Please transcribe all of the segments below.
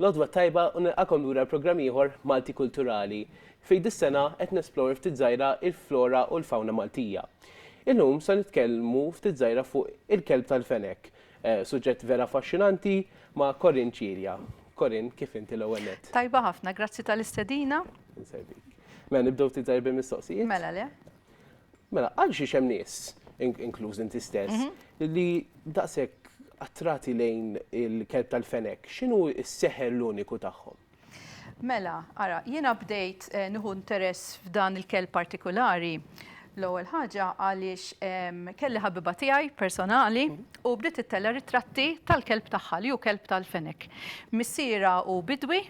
L-għodwa t-tajba u nilqakom lura għal programm ieħor Malti Kulturali, fejn dis-sena qed nesplore ftit żgħira il-flora u l-fawna Maltija. Illum se nitkellmu ftit żgħira fuq il-kelb tal-fenek, suġġett vera affaxxinanti ma' Corinne Cilia. Corinne, kif inti l-ewwel nett? Tajba ħafna, grazzi tal-istedina. Insegwik. Mela nibdew ftit żgħir bil-mistoqsijiet? Mela le. Mela, għalxiex hemm nies, inkluż inti stess, li daqshekk attrati lejn il-kelb tal-fenek, x'inhu s-seħer l-uniku tagħhom? Mela, ara, jiena bdejt nieħu interess f'dan il-kelb partikulari l-ewwel ħaġa għaliex kelli ħabiba tiegħi personali u bdiet ittella' ritratti tal-kelb tagħha li hu kelb tal-fenek. Missierha hu bidwi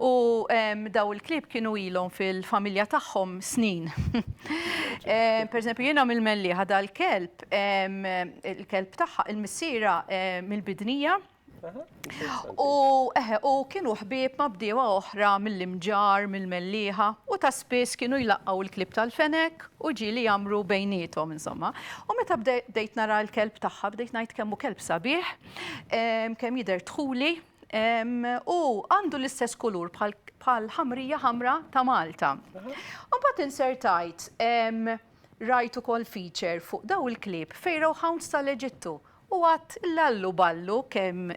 U daw il-klieb kienu ilhom fil-familja tagħhom snin. Pereżempju, jiena mill-Mellieħa dal-kelb, il-kelb tagħha, il-missiera mill-Bidnija. U kienu ħbieb ma' bdiewa oħra mill-Imġarr, mill-Mellieħa, u ta' spiss kienu jlaqqgħu l-klieb tal-fenek u ġieli jgħammru bejniethom, insomma. U meta bdejt nara l-kelb tagħha, bdejt ngħid kemm hu kelb sabiħ, kemm jidher dħuli, U għandu l-istess kulur bħal ħamrija ħamra ta' Malta. U bat insertajt rajt ukoll feature fuq daw il-klib fejraw hounds tal-Eġittu u għat lallu ballu kemm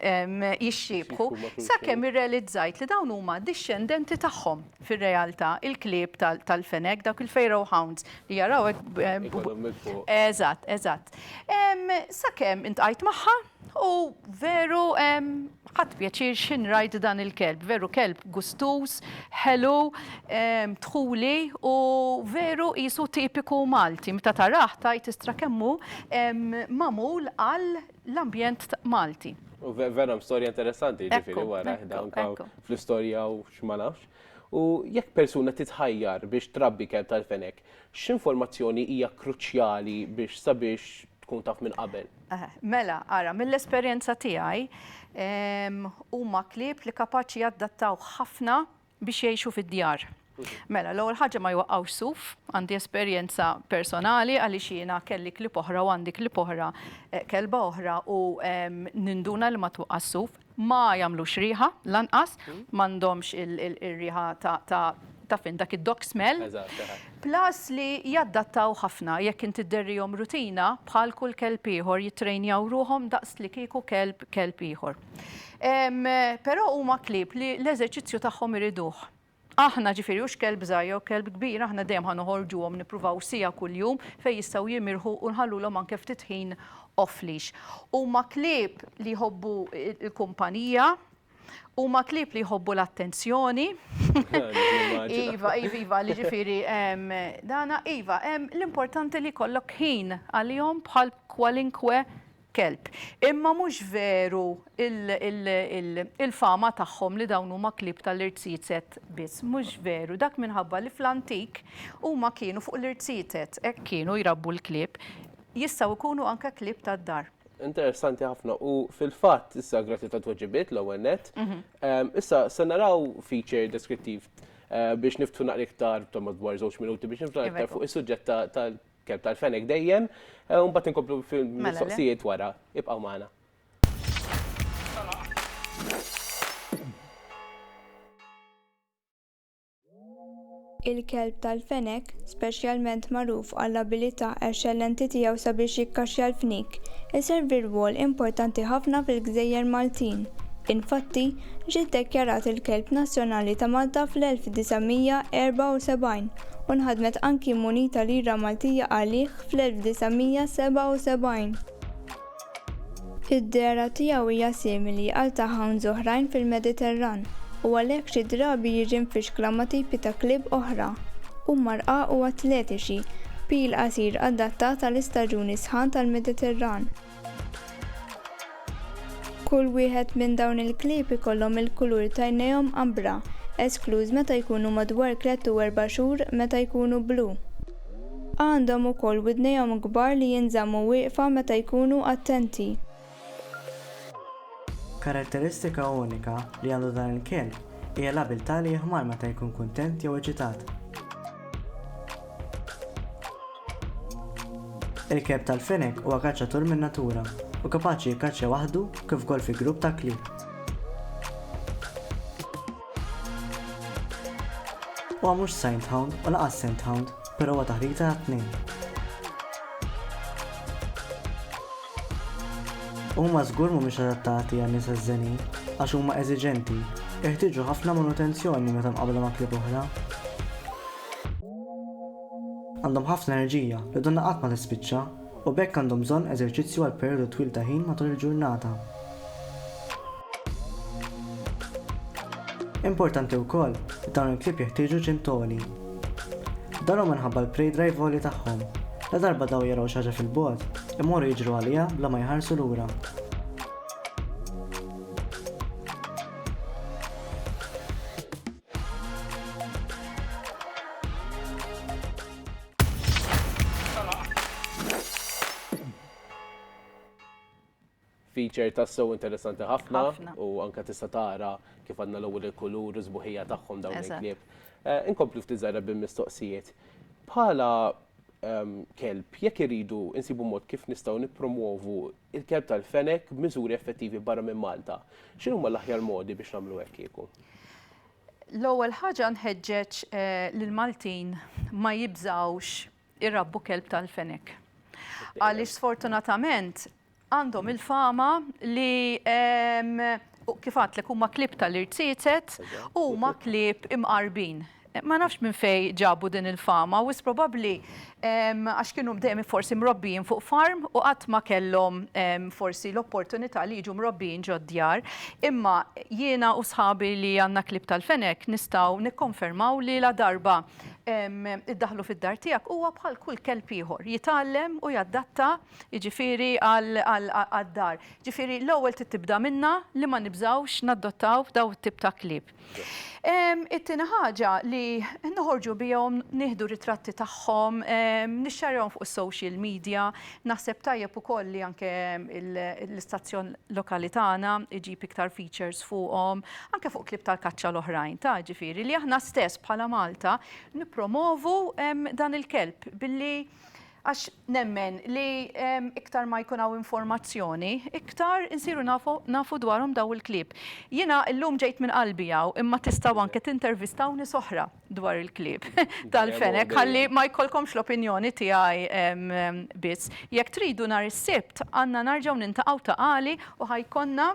jixxiebħu sa kemm irrelizzajt li dawn huma dixxendenti tagħhom fir-realtà il-klieb tal-fenek dawk il-fejraw hounds li jaraw hekk. Eżatt, eżatt. Sa kemm intqajt magħha. U veru ħadt pjaċir x'in rajt dan il-kelb, veru kelb gustuż, ħelu, dħuli u veru qisu tipiku Malti. Meta tarah tgħid istra' kemm hu magħmul għal l-ambjent Malti. U veru hemm storja interessanti jiġifieri wara fl-istorja u x'ma nafx. U jekk persuna titħajjar biex trabbi kelb tal-fenek, X'informazzjoni hija kruċjali biex sabiex tkun taf minn qabel? Mela, ara, mill-esperjenza tiegħi, huma klieb li kapaċi jaddattaw ħafna biex jgħixu fid-djar. Mela, l-ewwel ħaġa ma jwaqqgħux suf, għandi esperjenza personali għaliex jiena kelli klieb oħra u għandi klieb oħra, kelba oħra u ninduna li ma twaqqax suf. Ma jagħmlux riħa lanqas, m'għandhomx ir-riħa ta' taf int dak id-dog smell. Plus li jaddattaw ħafna jekk int idderrihom rutina bħal kull kelb ieħor jittrejnjaw ruħhom daqs li kieku kelb kelb ieħor. Però huma klieb li l-eżerċizzju tagħhom iriduh. Aħna, ġifieri, hux kelb żgħir jew kelb kbir, aħna dejjem ħa noħorġuhom, nippruvaw siegħa kuljum fejn jistgħu jimirħu u nħallulhom anke ftit ħin off-leash. Huma klieb li jħobbu l-kumpanija, huma klieb li jħobbu l-attenzjoni. Iva, iva, iva, li ġifieri hemm dana, iva, hemm l-importanti li jkollok ħin għalihom bħal kwalinkwe kelb. Imma mhux veru il-fama tagħhom li dawn huma klieb tal-irziezet biss. Mhux veru. Dak minħabba li fl-antik huma kienu fuq l-irziezet, hekk kienu jrabbu l-klieb. Jistgħu jkunu anke klieb tad-dar. Interessanti ħafna. U fil-fatt, issa grazzi tat-tweġibiet l-ewwel nett, issa se naraw feature deskrittiv biex niftħu naqra iktar, insomma, dwar żewġ minuti biex niftħu naqra iktar fuq is-suġġett tal-, Kelb tal-fenek dejjem, eh, u mbagħad inkomplu mela fil-mistoqsijiet wara. Ibqgħu magħna. Il-kelb tal-fenek, speċjalment magħruf għall-abilità eċċellenti tiegħu sabiex jikkaxxja l-fnik, iservi rwol importanti ħafna fil-gżejjer Maltin. Infatti, ġie ddekjarat il-kelb nazzjonali ta' Malta fl-1974. u nħadmet anki munita lira Maltija għalih fl-1977. Id-dehra tiegħu hija simili għal ta' hounds oħrajn fil-Mediterran u għalhekk xi drabi jiġi mfixkla ma' tipi ta' klieb oħra. Huma rqaq u atletiċi, b'pil qasir adattat għal istaġuni sħan tal-Mediterran. Kull wieħed minn dawn il-klieb ikollhom il-kulur tajnejhom ambra, eskluż meta jkunu madwar tlett u erba' xhur meta jkunu blu. Għandhom ukoll widnejhom kbar li jinżammu wieqfa meta jkunu attenti. Karatteristika unika li għandu dan il-kelb hija l-abiltà li jihmar meta jkun kuntent jew eċitat. Il-kelb tal-fenek huwa kaċċatur min-natura u kapaċi jikkaċċja waħdu kif ukoll fi grupp ta' klieb. Huwa mhux sainthound u laqas scenthound, però huwa taħrita għat-tnejn. Huma żgur mhumiex adattati għan nies żenin għax huma eżiġenti, jeħtieġu ħafna manutenzjoni meta mqabbla ma' klieb oħra. Għandhom ħafna enerġija, li donnha qatt ma tispiċċa, u b'hekk għandhom bżonn eżerċizzju għal perjodu twil ta' ħin matul il-ġurnata. Importanti wkoll li dawn il-klieb jeħtieġu ġim t'għoli. Dan hu minħabba l-prey drive għoli tagħhom. Ladarba dawn jaraw xi ħaġa fil-bogħod, imorru jiġru għaliha bla ma jħarsu lura. feature ta' so interessanti ħafna u anka tista' tara kif għandna l-ewwel il-kulur u żbuħija tagħhom dawn il-klieb. Eh, inkomplu ftit żgħira bil-mistoqsijiet. Bħala ehm, kelb, jekk iridu insibu mod kif nistgħu nippromuovu il-kelb tal-fenek b'miżuri effettivi barra minn Malta. X'inhuma l-aħjar modi biex nagħmlu hekk kieku? L-ewwel ħaġa nħeġġeġ lill-Maltin ma jibżgħux irabbu kelb tal-fenek. Għaliex sfortunatament għandhom il-fama li kif għadtlek huma klieb tal-irziezet u huma klieb imqarbin. Ma nafx minn fejn ġabu din il-fama, wisq probabbli għax kienu dejjem forsi mrobbijin fuq farm u qatt ma kellhom forsi l-opportunità li jiġu mrobbijin ġod-djar. Imma jiena u sħabi li għandna klieb tal-fenek nistgħu nikkonfermaw li ladarba iddaħħlu fid-dar tiegħek huwa bħal kull kelb ieħor, jitgħallem u jadatta jiġifieri għad-dar. Jiġifieri l-ewwel trid tibda minna li ma nibżgħux nadottaw dawn it-tip ta' klieb. It-tieni ħaġa li noħorġu bihom, nieħdu ritratti tagħhom, nixxarjahom fuq is-social media, naħseb tajjeb ukoll li anke l-istazzjon lokali tagħna jġib iktar features fuqhom, anke fuq klieb tal-kaċċa l-oħrajn, ta' ġifieri li aħna stess bħala Malta nippromovu dan il-kelb billi Għax nemmen li iktar ma jkun hawn informazzjoni, iktar insiru nafu nafu dwarhom dawn il-klieb. Jiena llum ġejt minn qalbi hawn imma tistgħu anke tintervistaw nies oħra dwar il-klieb tal-fenek ħalli ma jkollkomx l-opinjoni tiegħi biss. Jekk tridu nhar is-Sibt għandna narġgħu nintaqgħu ta' għali u ħa jkollna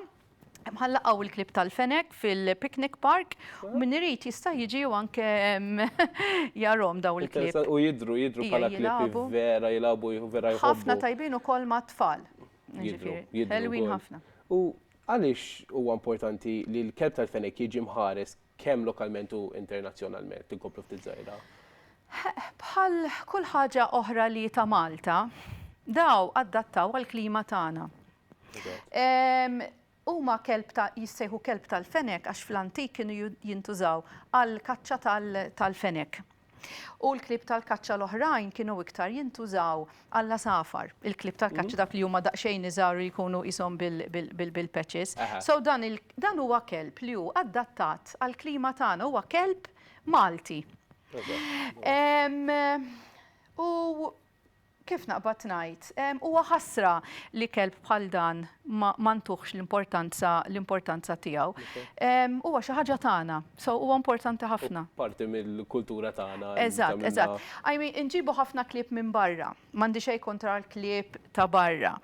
mħallaqaw il-klib tal-fenek fil-picnic park u min irid jista' jiġi u anke jarom daw il-klib. U jidru, jidru bħala klib vera jilabu, vera jħobbu. Ħafna tajbin u kol ma' tfal. Jidru, jidru. ħafna. U għalix huwa importanti li l-kelb tal-fenek jiġi mħares kemm lokalment u internazzjonalment, tinkoplu ftit zaħira? Bħal kull ħaġa oħra li ta' Malta, daw addattaw għal-klima tagħna. Huma kelb ta' jissejħu kelb tal-fenek għax fl-antik kienu jintużaw għall-kaċċa tal-fenek. U l-klieb tal-kaċċa l-oħrajn kienu iktar jintużaw għall-għasafar. Il-klieb tal-kaċċa dawk li huma daqsxejn iżgħar li jkunu qishom bil-patches. So dan huwa kelb li hu adattat għall-klima tagħna, huwa kelb Malti. U Kif naqbad ngħid, huwa ħasra li kelb bħal dan ma ntuhx l-importanza l-importanza tiegħu. Huwa xi ħaġa tagħna, so huwa importanti ħafna. Parti mill-kultura tagħna. Eżatt, eżatt. I mean, inġibu ħafna klieb minn barra, m'għandi xejn kontra l-klieb ta' barra.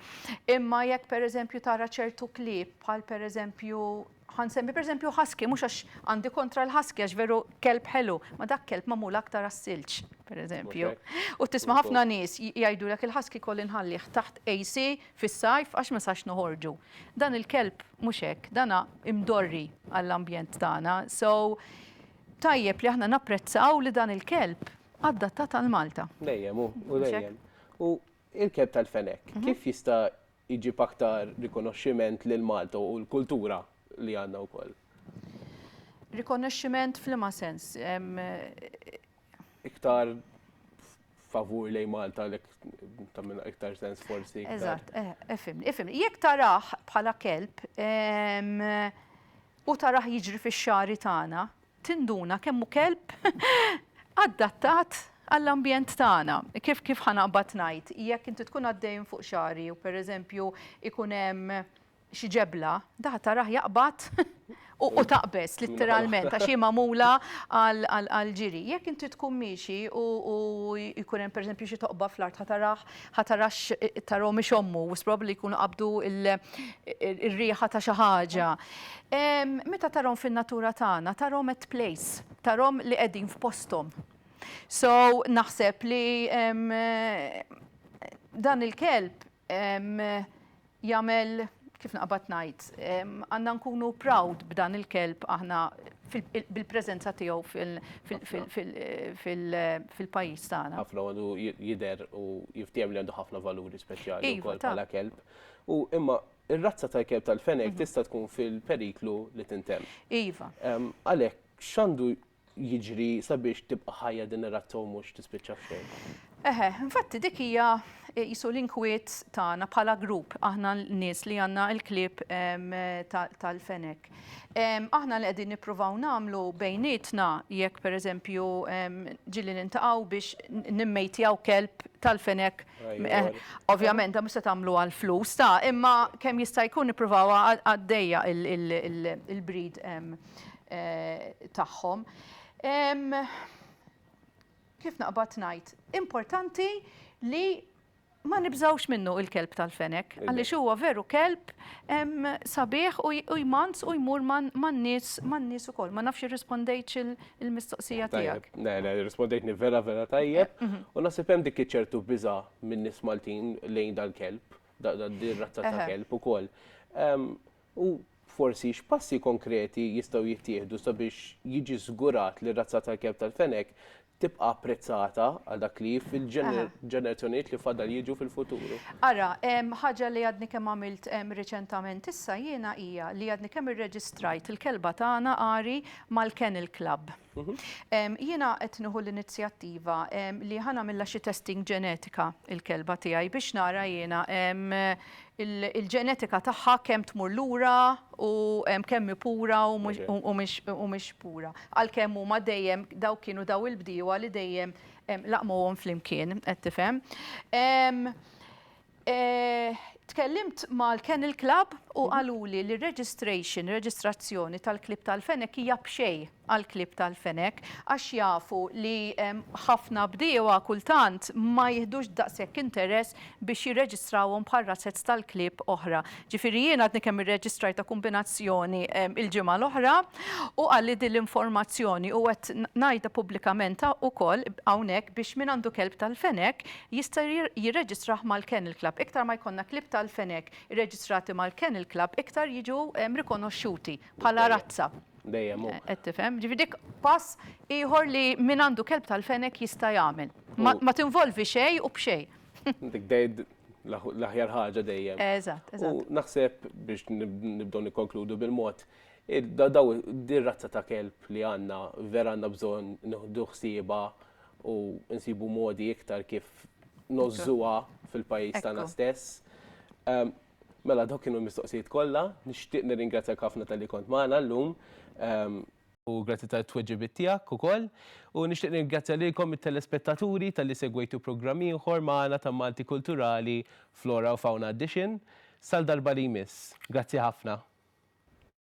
Imma jekk pereżempju tara ċertu klieb bħal pereżempju Ħa nsemmi pereżempju husky, mhux għax għandi kontra l-husky għax veru kelb ħelu, ma dak kelb magħmul aktar għas-silġ, pereżempju. U tisma' ħafna nies jgħidulek il-husky jkolli nħallih taħt AC fis-sajf għax ma sax noħorġu. Dan il-kelb mhux hekk, dan imdorri għall-ambjent tagħna. So tajjeb li aħna napprezzaw li dan il-kelb adattat għal Malta. Dejjem hu, hu dejjem. Il-kelb tal-fenek, kif jista' jġib aktar rikonoxximent lil Malta u l-kultura li għandna wkoll? Rikonoxximent f'liema sens? Iktar favur lejn Malta għalhekk ta' minn iktar sens forsi. Eżatt, eh, ifimni, ifimni. Jekk taraħ bħala kelb u taraħ jiġri fix-xari tagħna, tinduna kemm hu kelb adattat għall-ambjent tagħna. Kif kif ħa naqbad ngħid, jekk inti tkun għaddej minn fuq xagħri u pereżempju ikun hemm xi ġebla, daħ taraħ jaqbad u taqbeż litteralment għax hi magħmula għall-ġiri. Jekk inti tkun miexi u jkun hemm pereżempju xi toqba fl-art ħa taraħ Ħa tarax taro mhix ommu, wis probabbli li jkunu qabdu r-riħa ta' xi ħaġa. Meta tarhom fin-natura tagħna, tarhom at place, tarhom li qegħdin f'posthom. So naħseb li dan il-kelb jagħmel, kif naqbad ngħid, għandna nkunu proud b'dan il-kelb aħna bil-preżenza tiegħu fil-pajjiż tagħna. Ħafna għandu jidher u jiftiehem li għandu ħafna valuri speċjali wkoll bħala kelb. U imma r-razza tal-kelb tal-feneg tista' tkun fil-periklu li tintemm. Iva. Għalhekk x'għandu jiġri sabiex tibqa' ħajja din ir-razza u mhux tispiċċa f'xejn. Eħe, infatti dik hija eh, jisu l-inkwiet tagħna bħala grupp aħna nies li għandna l-klib tal-fenek. Aħna li qegħdin nippruvaw nagħmlu bejnietna jekk pereżempju ġilli nintaqgħu biex nimmejtjaw kelb tal-fenek. Eh, ovvjament da mhux se tagħmlu għal flus ta' imma kemm jista' jkun nippruvaw għaddejja il-breed tagħhom. Kif naqbad ngħid, importanti li ma nibżgħux minnu il-kelb tal-fenek, għaliex huwa veru kelb sabiħ u jmanz u jmur man-nies man-nies ukoll. Ma nafx irrispondejtx il-mistoqsija tiegħek. Le, le, irrispondejtni vera vera tajjeb u naħseb hemm dik iċ-ċertu biża' min-nies Maltin lejn dal-kelb, din ir-razza ta' kelb ukoll. U, forsi, x'passi konkreti jistgħu jittieħdu sabiex jiġi żgurat li r-razza tal-kelb tal-fenek tibqa' apprezzata għal dak li hi fil-ġenerazzjonijiet li fadal jiġu fil-futur? Ara, ħaġa li għadni kemm għamilt riċentament issa jiena hija li għadni kemm irreġistrajt il-kelba tagħna Ari mal-Kennel Club. Jiena qed nieħu l-inizjattiva li ħa nagħmilha xi testing ġenetika il-kelba tiegħi biex nara jiena il-ġenetika tagħha kemm tmur lura u kemm hi pura u mhix pura. Għalkemm huma dejjem dawk kienu daw il-bdiewa li dejjem laqmuhom flimkien, qed tifhem. Tkellimt mal-Kennel Club u mhm. qaluli li registration, reġistrazzjoni tal-klib tal-fenek hija bxej għal-klib tal-fenek għax jafu li ħafna bdiewa kultant ma jihdux daqshekk interess biex jirreġistrawhom bħal razzezz tal-klib oħra. Ġifieri jien għadni kemm irreġistraj ta' kombinazzjoni il-ġimgħa l-oħra u għalli din l-informazzjoni u qed ngħidha pubblikament ukoll hawnhekk biex min għandu kelb tal-fenek jista' jirreġistrah mal-Kennel Club. Iktar ma jkollna klieb tal-fenek irreġistrati mal-Kennel Club, iktar jiġu rikonoxxuti bħala razza. Dejjem hu. Qed tifhem? Ġifieri dik pass ieħor li min għandu kelb tal-fenek jista' jagħmel. Ma tinvolvi xejn u b'xejn. Dik l-aħjar ħaġa dejjem. Eżatt, eżatt. U naħseb biex nibdew nikkonkludu bil-mod, din ir-razza ta' kelb li għandna vera għandna bżonn nieħdu ħsiebha u nsibu modi iktar kif nożżuha fil-pajjiż tagħna stess. Mela dawk kienu l-mistoqsijiet kollha, nixtieq nirringrazzjak ħafna talli kont magħna llum u grazzi tat-tweġibiet tiegħek ukoll. U nixtieq nirringrazzja lilkom it-telespettaturi talli segwejtu programm ieħor magħna ta' Malti Kulturali Flora u Fauna Edition. Sal-darba li jmiss. Grazzi ħafna.